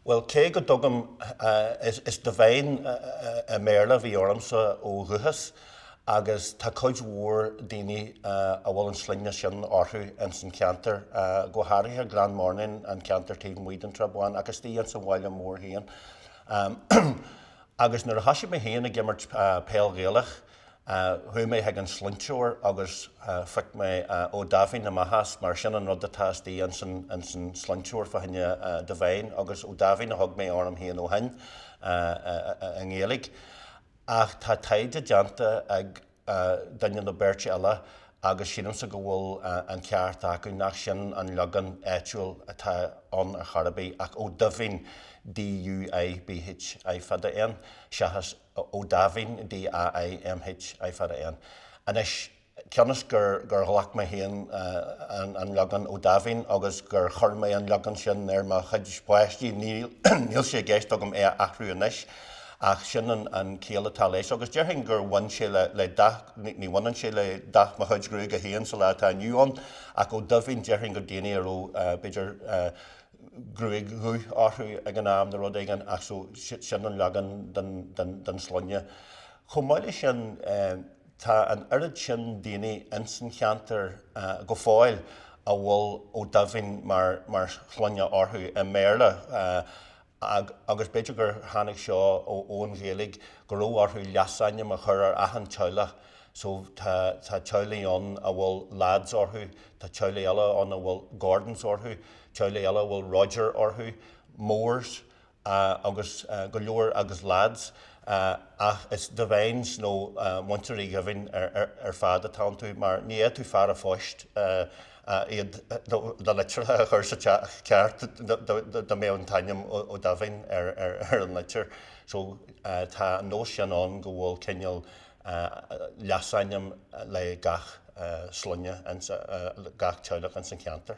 Bhuel, cé go dtugaim is Devine i mBéarla a bhí ormsa ó dhúchas agus tá cuid mhór daoine a bhfuil an sloinne sin orthu ins an cheantar, go háirithe Glenmornan, an ceantar taobh amuigh den tSrath Bán agus istigh ins an bhaile mhór féin. Agus nuair a thosaigh mé féin ag imirt peil Ghaelach, Chuaigh mé chuig an sloinnteoir agus phioc mé Ó Daimhín amach as, mar sin an rud atá istigh ins an sloinnteoir fá choinne Devine, agus Ó Daimhín a thug mé orm féin ó shin i nGaeilge. Ach tá taighde déanta ag duine nó beirt eile agus sílimse go bhfuil an ceart acu, nach sin an leagan áitiúil atá ann ar chor ar bith, ach Ó Duibhín, DUIBH, I fada N, seachas. Ó Daimhín, DAIMH, I fada N. Anois, cionn is gur ghlac mé féin an leagan Ó Daimhín agus gur chuir mé an leagan sin ar mo chuid páistí, níl sé i gceist agam é a athrú anois, ach sin an chiall atá leis. Agus déarfainn gur bhain sé le dath, ní bhaineann sé le dath mo chuid gruaige féin sa lá atá inniu ann, ach Ó Duibhín, déarfainn gur daoine a raibh, b'fhéidir, gruaig dhubh orthu ag an am nó rud éigin ach so sin an leagan den sloinne. Chomh maith le sin tá an oiread sin daoine ins an cheantar go fóill a bhfuil Ó Daimhín mar shloinne orthu i mBéarla agus b'fhéidir gur tháinig seo ón Ghaeilge go raibh orthu leasainm a chur ar achan teaghlach So, tá, tá teaghlaigh ann a bhfuil Lads orthu, tá teaghlaigh eile ann a bhfuil Gordons orthu, teaghlaigh eile a bhfuil Roger orthu, Moores, agus go leor, agus Lads, ach is Devines nó Muintir Uí Dhaimhín ar fad atá iontu, mar ní fhéadfadh fear a' phoist iad, do litir a chur sa teach ceart, dá mbeadh an t-ainm Ó Daimhín ar an litir. So, tá an nós sin ann go bhfuil cineál, leasainm le gach sloinne, gach teaghlach ins an cheantar.